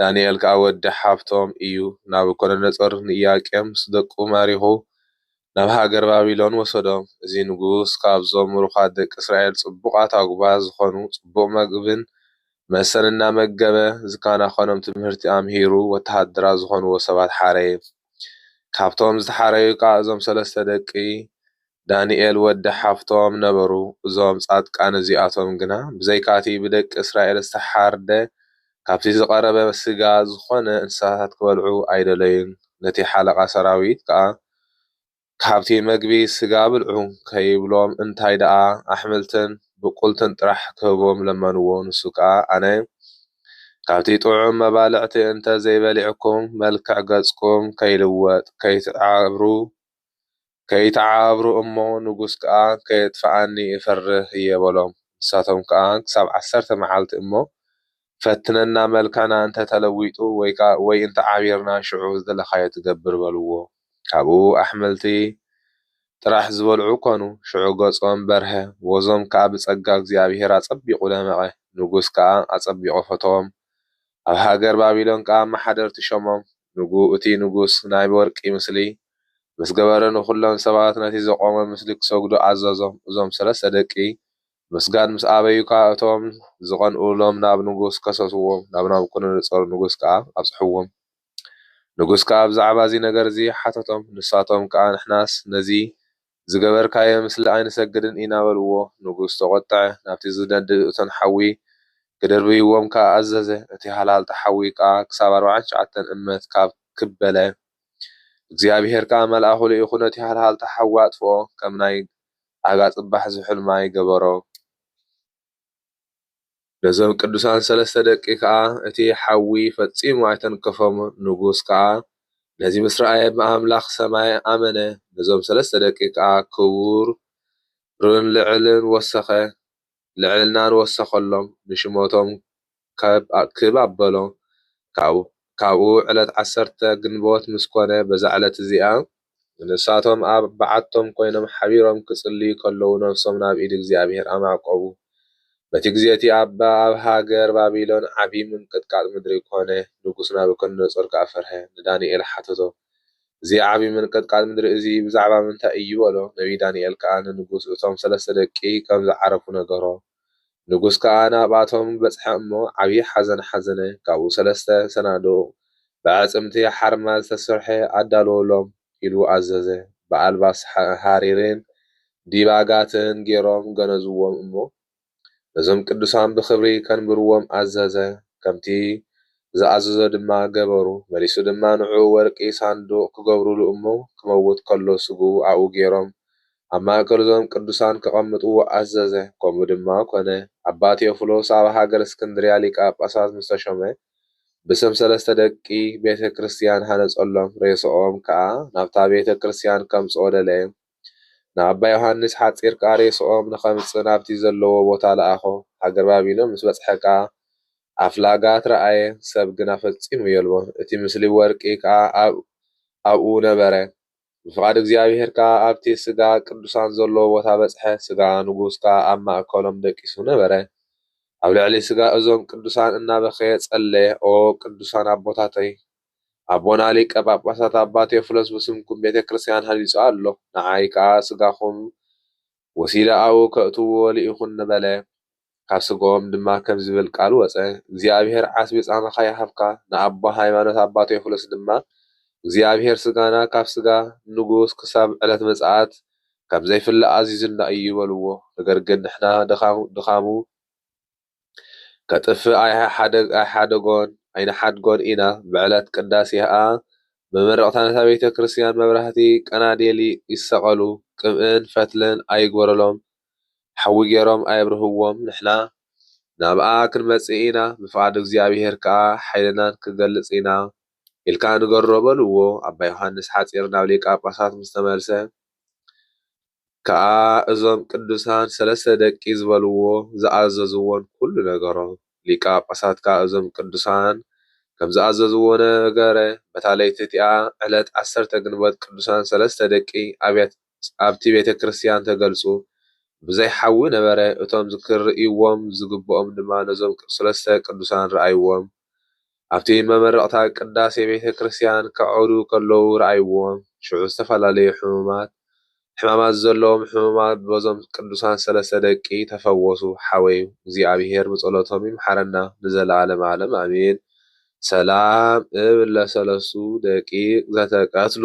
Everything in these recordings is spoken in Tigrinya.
ዳንኤል ከኣ ወዲ ሓብቶም ኢዩ፣ ናቡኮዶነጾር ንኢያቄም ምስ ደቁ ማሪኹ ናብ ሃገር ባቢሎን ወሰዶም። እዚ ንጉስ ካብዞም ምሩኻት ደቂ እስራኤል ጽቡቓት ኣጕባዝ ዝዀኑ ጽቡቕ መግብን መስተን እናመገበ ዝከናኸኖም ትምህርቲ ኣምሂሩ ወተሃደራት ዝዀንዎ ሰባት ሓረየ። ካብቶም ዝተሓረዩ ከኣ እዞም ሰለስተ ደቂ ዳንኤል ወዲ ሓፍቶም ነበሩ እዞም ጻድቃን እዚኣቶም ግና ብዘይካቲ ብደቂ እስራኤል ዝተሓርደ ካብቲ ዝቐረበ ስጋ ዝኾነ እንስሳታት ክበልዑ ኣይደለዩን ነቲ ሓለቓ ሰራዊት ከኣ ካብቲ መግቢ ስጋ ብልዑ ከይብሎም እንታይ ደኣ ኣሕምልትን ብቁልትን ጥራሕ ክህቦም ለመንዎ ንሱ ከኣ ኣነ ካብቲ ጥዑም መባልዕቲ እንተዘይበሊዕኩም መልክዕ ገጽኩም ከይልወጥ ከይትዓብሩ ከይተዓባብሩ እሞ ንጉስ ከኣ ከየጥፍኣኒ እፈርህ እየ በሎም። ንሳቶም ከኣ ክሳብ ዓሰርተ መዓልቲ እሞ ፈትነና መልካና እንተ ተለዊጡ ወይ እንተ ዓቢርና ሽዑ ዝደለኻዮ ትገብር በልዎ። ካብኡ ኣሕምልቲ ጥራሕ ዝበልዑ ኮኑ። ሽዑ ገጾም በርሀ ወዞም ከኣ ብጸጋ እግዚኣብሔር ኣጸቢቑ ደመቐ። ንጉስ ከኣ ኣጸቢቑ ፈተዎም ኣብ ሃገር ባቢሎን ከኣ ኣመሓደርቲ ሾሞም፣ ንጉ እቲ ንጉስ ናይ ወርቂ ምስሊ ምስ ገበረ ንዅሎም ሰባት ነቲ ዘቖመ ምስሊ ኪሰግዱ ኣዘዞም። እዞም ሰለስተ ደቂ ምስጋድ ምስ ኣበዩ ከኣ እቶም ዝቐንኡሎም ናብ ንጉስ ከሰስዎም፣ ናብ ናቡኮዶኖጾር ንጉስ ከኣ ኣብጽሕዎም። ንጉስ ከኣ ብዛዕባ እዚ ነገር እዚ ሓተቶም፣ ንሳቶም ከኣ ንሕናስ ነዚ ዝገበርካዮ ምስሊ ኣይንሰግድን ኢና በልዎ። ንጉስ ተቖጥዐ፣ ናብቲ ዝነድድ እቶን ሓዊ ክድርብይዎም ከኣ ኣዘዘ። እቲ ሃልሃልታ ሓዊ ከኣ ክሳብ ኣርብዓን ትሽዓተን እመት ካብ ክብ በለ። እግዚኣብሄር ከኣ መልኣኹ ልኢኹ ነቲ ሃልሃልታ ሓዊ ኣጥፍኦ፣ ከም ናይ ኣጋ ጽባሕ ዝሑል ማይ ገበሮ። ነዞም ቅዱሳን ሠለስተ ደቂ ከኣ እቲ ሓዊ ፈጺሙ ኣይተንከፎም፣ ንጉሥ ከኣ ነዚ ምስ ረኣየ ብኣምላኽ ሰማይ ኣመነ፣ ነዞም ሠለስተ ደቂ ከኣ ክቡርን ልዕልናን ወሰኸሎም፣ ንሽመቶም ክብ ኣበሎ። ካብኡ ዕለት ዓሰርተ ግንቦት ምስ ኮነ በዛ ዕለት እዚኣ ንሳቶም ኣብ በዓቶም ኮይኖም ሓቢሮም ክጽልዩ ከለዉ ነፍሶም ናብ ኢድ እግዚኣብሄር ኣማዕቆቡ። በቲ ግዜ እቲ ኣባ ኣብ ሃገር ባቢሎን ዓቢ ምንቅጥቃጥ ምድሪ ኮነ፣ ንጉስ ናቡከደነጾር ከኣ ፈርሀ። ንዳንኤል ሓተቶ እዚ ዓቢ ምንቅጥቃጥ ምድሪ እዚ ብዛዕባ ምንታይ እዩ በሎ። ነብዪ ዳንኤል ከኣ ንንጉስ እቶም ሰለስተ ደቂ ከም ዝዓረፉ ነገሮ። ንጉስ ከኣ ናብኣቶም በጽሐ እሞ ዓብዪ ሓዘን ሓዘነ፣ ካብኡ ሰለስተ ሰናዱቕ ብኣዕጽምቲ ሓርማዝ ዝተሰርሐ ኣዳልዉሎም ኢሉ ኣዘዘ፣ ብኣልባስ ሃሪርን ዲባጋትን ገይሮም ገነዝዎም እሞ ነዞም ቅዱሳን ብኽብሪ ከንብርዎም ኣዘዘ፣ ከምቲ ዝኣዘዞ ድማ ገበሩ፣ መሊሱ ድማ ንዕኡ ወርቂ ሳንዱቕ ክገብሩሉ እሞ ክመውት ከሎ ስግኡ ኣብኡ ገይሮም ኣብ ማእከል እዞም ቅዱሳን ከቐምጥዎ ኣዘዘ፣ ከምኡ ድማ ኮነ። ኣባ ቴዎፍሎስ ኣብ ሃገረ እስክንድርያ ሊቀ ጳጳሳት ምስ ተሾመ ብስም ሰለስተ ደቂ ቤተ ክርስቲያን ሃነጸሎም፣ ሬስኦም ከኣ ናብታ ቤተ ክርስቲያን ከምጽኦ ደለየ። ንኣባ ዮሓንስ ሓጺር ከኣ ሬስኦም ንኸምጽእ ናብቲ ዘለዎ ቦታ ለኣኾ። ሃገር ባቢሎን ምስ በጽሐ ከኣ ኣፍላጋት ረኣየ፣ ሰብ ግና ፈጺሙ የልቦን፣ እቲ ምስሊ ወርቂ ከኣ ኣብኡ ነበረ። ብፍቓድ እግዚኣብሄር ከኣ ኣብቲ ሥጋ ቅዱሳን ዘለዎ ቦታ በጽሐ፣ ሥጋ ንጉሥ ከኣ ኣብ ማእከሎም ደቂሱ ነበረ። ኣብ ልዕሊ ሥጋ እዞም ቅዱሳን እናበኸየ ጸለየ፣ ኦ ቅዱሳን ኣቦታተይ፣ ኣቦና ሊቀ ጳጳሳት ኣባ ቴዎፍሎስ ብስምኩም ቤተ ክርስቲያን ሃኒጹ ኣሎ፣ ንዓይ ከኣ ሥጋኹም ወሲደ ኣብኡ ከእትዎ ልኢኹኒ በለ። ካብ ስግኦም ድማ ከምዚ ዝብል ቃል ወጸ፣ እግዚኣብሄር ዓስቢ ጻማኻ ይሃብካ፣ ንኣቦ ሃይማኖት ኣባ ቴዎፍሎስ ድማ፣ እግዚኣብሄር ስጋና ካብ ስጋ ንጉስ ክሳብ ዕለት ምጽኣት ከም ዘይፍለ ኣዚዙና እዩ በልዎ፣ ነገር ግን ንሕና ድኻሙ ከጥፍእ ኣይሓደጎን ኣይንሓድጎን ኢና፣ ብዕለት ቅዳሴ ከኣ መመረቕታ ነታ ቤተ ክርስቲያን መብራህቲ ቀናዴል ይሰቐሉ፣ ቅብእን ፈትልን ኣይግበረሎም ሓዊ ገይሮም ኣየብርህዎም ንሕና ናብኣ ክንመጽእ ኢና ብፍቓድ እግዚኣብሄር ከኣ ሓይልናን ክንገልጽ ኢና ኢልካ ንገሮ በልዎ ኣባ ዮሓንስ ሓጺር ናብ ሊቀ ጳጳሳት ምስ ተመልሰ ከኣ እዞም ቅዱሳን ሰለስተ ደቂ ዝበልዎ ዝኣዘዝዎን ኩሉ ነገሮ ሊቀ ጳጳሳት ከኣ እዞም ቅዱሳን ከም ዝኣዘዝዎ ነገረ በታ ለይቲ እቲኣ ዕለት ዓሰርተ ግንቦት ቅዱሳን ሰለስተ ደቂ ኣብያተ ኣብቲ ቤተ ክርስቲያን ተገልጹ ብዘይ ሓዊ ነበረ፣ እቶም ክርእይዎም ዝግብኦም ድማ ነዞም ሠለስተ ቅዱሳን ረኣይዎም፣ ኣብቲ መመረቕታ ቅዳሴ ቤተ ክርስቲያን ከዕርዩ ከለዉ ረኣይዎም፣ ሽዑ ዝተፈላለዩ ሕሙማት ሕማማት ዘለዎም ሕሙማት በዞም ቅዱሳን ሠለስተ ደቂ ተፈወሱ፣ ሓወይ እግዚኣብሔር ብጸሎቶም ይምሓረና ንዘለዓለመ ዓለም ኣሜን፣ ሰላም እብል ለሠለስቱ ደቂቅ ዘተቀትሉ።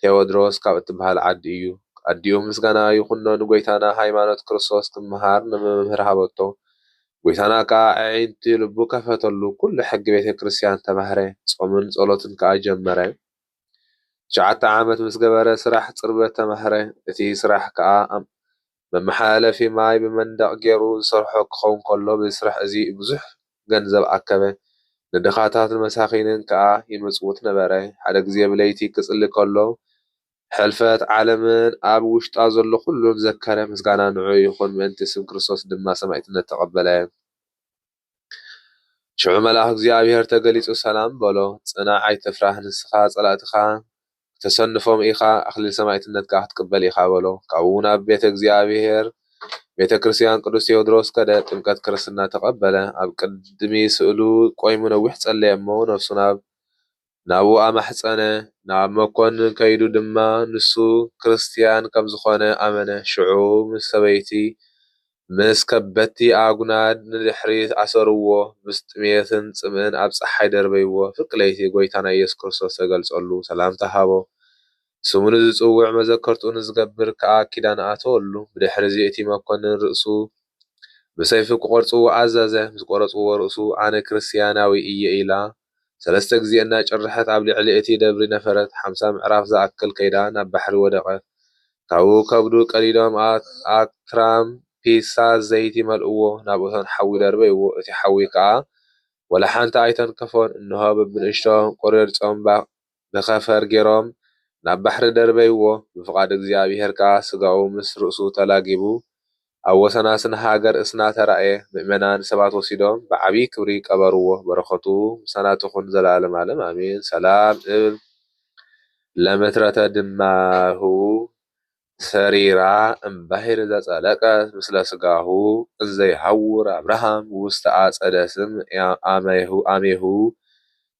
ቴዎድሮስ ካብ እትብሃል ዓዲ እዩ ኣዲኡ ምስጋና ይኩኖ ንጎይታና ሃይማኖት ክርስቶስ ክምሃር ንመምህር ሃበቶ ጎይታና ከኣ ኣዒንቲ ልቡ ከፈተሉ ኩሉ ሕጊ ቤተክርስትያን ተማህረ ጾምን ጸሎትን ከኣ ጀመረ ትሽዓተ ዓመት ምስገበረ ስራሕ ጽርበት ተማህረ እቲ ስራሕ ከኣ መመሓላለፊ ማይ ብመንደቕ ጌሩ ዝሰርሖ ክኸውን ከሎ በዚ ስራሕ እዚ ብዙሕ ገንዘብ ኣከበ። ንድኻታትን መሳኺንን ከኣ ይምጽውት ነበረ። ሓደ ግዜ ብለይቲ ክጽሊ ከሎ ሕልፈት ዓለምን ኣብ ውሽጣ ዘሎ ኩሉን ዘከረ። ምስጋና ንዕኡ ይኹን ምእንቲ ስም ክርስቶስ ድማ ሰማኢትነት ተቐበለ። ሽዑ መልኣኽ እግዚኣብሄር ተገሊጹ ሰላም በሎ። ጽናዕ ኣይትፍራህ ንስኻ ጸላእትኻ ክተሰንፎም ኢኻ ኣኽሊል ሰማእትነት ከኣ ክትቅበል ኢኻ በሎ። ካብኡ ናብ ቤተ እግዚኣብሄር ቤተ ክርስቲያን ቅዱስ ቴዎድሮስ ከደ ጥምቀት ክርስትና ተቐበለ። ኣብ ቅድሚ ስእሉ ቆይሙ ነዊሕ ጸለየ እሞ ነፍሱ ናብ ናብኡ ኣማሕጸነ፣ ናብ መኰንን ከይዱ ድማ ንሱ ክርስትያን ከም ዝዀነ ኣመነ። ሽዑ ምስ ሰበይቲ፣ ምስ ከበድቲ ኣጕናድ ንድሕሪት ኣሰርዎ፣ ምስ ጥሜትን ጽምእን ኣብ ጸሓይ ደርበይዎ። ፍርቂ ለይቲ ጐይታና ኢየሱስ ክርስቶስ ተገልጸሉ፣ ሰላምታ ሃቦ፣ ስሙ ንዝጽውዕ መዘከርትኡ ንዝገብር ከኣ ኪዳን ኣተወሉ። ብድሕርዚ እቲ መኰንን ርእሱ ብሰይፊ ክቖርጽዎ ኣዘዘ፣ ምስ ቈረጽዎ ርእሱ ኣነ ክርስትያናዊ እየ ኢላ ሰለስተ ግዜ እናጨርሐት ኣብ ልዕሊ እቲ ደብሪ ነፈረት፣ ሓምሳ ምዕራፍ ዝኣክል ከይዳ ናብ ባሕሪ ወደቐት። ካብኡ ከብዱ ቀዲዶም ኣብ ትራም ፒሳ ዘይቲ መልእዎ፣ ናብ እቶን ሓዊ ደርበይዎ፣ እቲ ሓዊ ከኣ ወላ ሓንቲ ኣይተንከፎን፣ እንሆ በብንእሽቶ ቁርርጽ ጾምባ ንከፈር ገይሮም ናብ ባሕሪ ደርበይዎ፣ ብፍቓድ እግዚኣብሄር ከኣ ስጋኡ ምስ ርእሱ ተላጊቡ ኣብ ወሰናስን ሃገር እስና ተራእየ፣ ምእመናን ሰባት ወሲዶም ብዓቢይ ክብሪ ቀበርዎ፣ በረኸቱ ምሳና ትኹን ዘለዓለም ዓለም ኣሜን፣ ሰላም እብል ለምትረተ ድማህው ሰሪራ እም ባሕር ዘጸለቀት ምስለ ሥጋሁ እንዘ ይሐውር ኣብርሃም ውስተ ኣጸደ ስም አሜሁ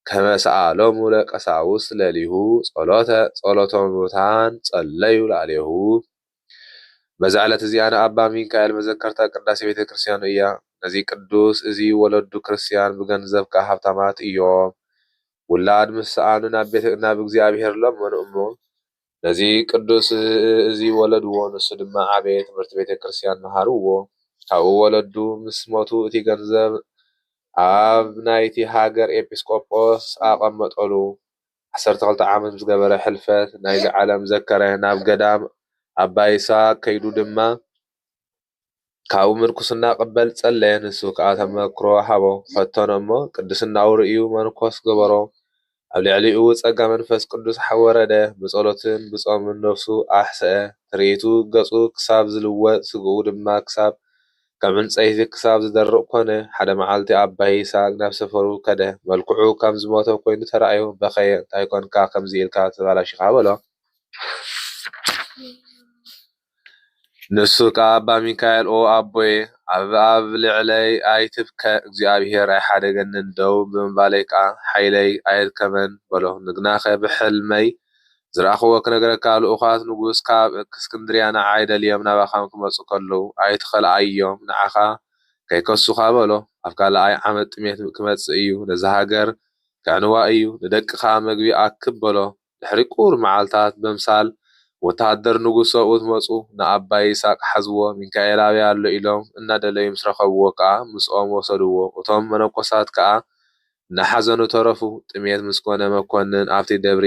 ከመ ሰአሎሙ ለቀሳውስት ለሊሁ ጸሎተ ጸሎተ ምውታን ጸለዩ ላዕሌሁ በዛ ዕለት እዚኣ ንኣባ ሚካኤል መዘከርታ ቅዳሴ ቤተ ክርስቲያኑ እያ ነዚ ቅዱስ እዚ ወለዱ ክርስቲያን ብገንዘብ ከኣ ሃብታማት እዮም ውላድ ምስ ሰኣኑ ናብ እግዚኣብሔር ለመኑ እሞ ነዚ ቅዱስ እዚ ወለድዎ ንሱ ድማ ዓበየ ትምህርቲ ቤተ ክርስቲያን መሃርዎ ካብኡ ወለዱ ምስ ሞቱ እቲ ገንዘብ ኣብ ናይቲ ሃገር ኤጲስቆጶስ ኣቀመጠሉ ዓሰርተ ክልተ ዓመት ምስ ገበረ ሕልፈት ናይዚ ዓለም ዘከረ ናብ ገዳም ኣባ ይስሃቅ ከይዱ ድማ ካብኡ ምንኩስና ቅበል ጸለየ ንሱ ከኣ ተመክሮ ሃቦ ፈተኖ እሞ ቅድስናኡ ርእዩ መንኮስ ገበሮ ኣብ ልዕሊኡ ጸጋ መንፈስ ቅዱስ ወረደ ብጸሎትን ብጾምን ነፍሱ ኣሕሰኣ ትርኢቱ ገጹ ክሳብ ዝልወጥ ስግኡ ድማ ክሳብ ከም ዕንጸይቲ ክሳብ ዝደርቕ ኮነ ሓደ መዓልቲ ኣባ ይስሃቅ ናብ ሰፈሩ ከደ መልክዑ ከም ዝሞተ ኮይኑ ተራእዮ በኸየ እንታይ ኮንካ ከምዚ ኢልካ ተባላሺኻ በሎ። ንሱ ከኣ ኣባ ሚካኤል ኦ ኣቦየ ኣብ ኣብ ልዕለይ ኣይትብከ እግዚኣብሔር ኣይሓደገንን ደው ብምባለይ ከኣ ሓይለይ ኣየድከመን በሎ ንግናኸ ብሕልመይ ዝረኣኽዎ ክነግረካ ልኡኻት ንጉስ ካብ እክስክንድርያ ንዓይ ደልዮም ናባኻ ክመጹ ከለዉ ኣይትኸልኣዮም ንዓኻ ከይከሱኻ በሎ ኣብ ካልኣይ ዓመት ጥሜት ክመጽእ እዩ ነዛ ሃገር ከዕንዋ እዩ ንደቅኻ መግቢ ኣክብ በሎ ድሕሪ ቁሩብ መዓልታት በምሳል ወተሃደር ንጉስ ሰብኡት መጹ ንኣባ ይስሃቅ ሓዝዎ ሚካኤል ኣበይ ኣሎ ኢሎም እናደለዩ ምስ ረከብዎ ከኣ ምስኦም ወሰድዎ እቶም መነኮሳት ከኣ እናሓዘኑ ተረፉ ጥሜት ምስ ኮነ መኮንን ኣብቲ ደብሪ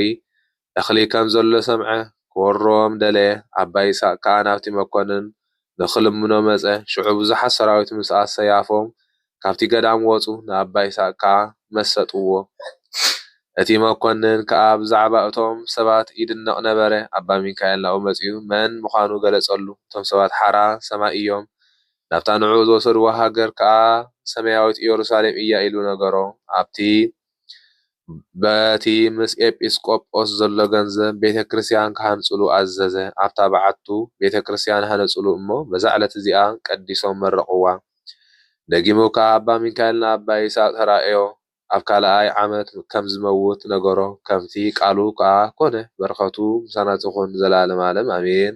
እክሊ ከም ዘሎ ሰምዐ ክወርሮም ደለየ ኣባ ይስሃቅ ከኣ ናብቲ መኮንን ንኽልምኖ መጸ። ሽዑ ብዙሓት ሰራዊት ምስ ኣሰያፎም ካብቲ ገዳም ወጹ፣ ንኣባ ይስሃቅ ከኣ መሰጥዎ። እቲ መኰንን ከኣ ብዛዕባ እቶም ሰባት ይድነቕ ነበረ። ኣባ ሚካኤል ናብኡ መጺኡ መን ምዃኑ ገለጸሉ። እቶም ሰባት ሓራ ሰማይ እዮም፣ ናብታ ንዕኡ ዝወሰድዎ ሃገር ከኣ ሰማያዊት ኢየሩሳሌም እያ ኢሉ ነገሮ። ኣብቲ። በቲ ምስ ኤጲስቆጶስ ዘሎ ገንዘብ ቤተ ክርስቲያን ክሃንጹሉ ኣዘዘ። ኣብታ በዓቱ ቤተ ክርስቲያን ሃነጹሉ እሞ በዛ ዕለት እዚኣ ቀዲሶም መረቕዋ። ደጊሙ ከኣ ኣባ ሚካኤል ንኣባ ይስሃቅ ተራእዮ ኣብ ካልኣይ ዓመት ከም ዝመውት ነገሮ ከምቲ ቃሉ ከኣ ኮነ። በረኸቱ ምሳና ትኹን ንዘለዓለም ዓለም ኣሜን።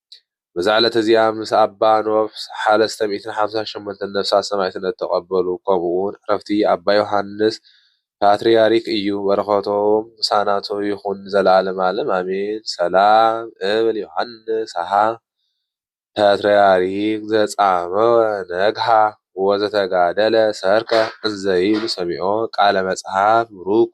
በዛ ዕለት እዚኣ ምስ ኣባ ኖፍ ሓለስተ ሚእትን ሓምሳን ሸሞንተን ነፍሳት ሰማዕትነት ተቀበሉ ከምኡ ውን ዕረፍቲ ኣባ ዮሓንስ ፓትርያርክ እዩ በረከቶም ምሳና ይኩን ንዘላለም ኣለም ኣሜን ሰላም እብል ዮሓንስ ሃ ፓትርያርክ ዘጻመወ ነግሃ ወዘተጋደለ ሠርከ እንዘይብሉ ሰሚዖ ቃለ መጽሐፍ ብሩክ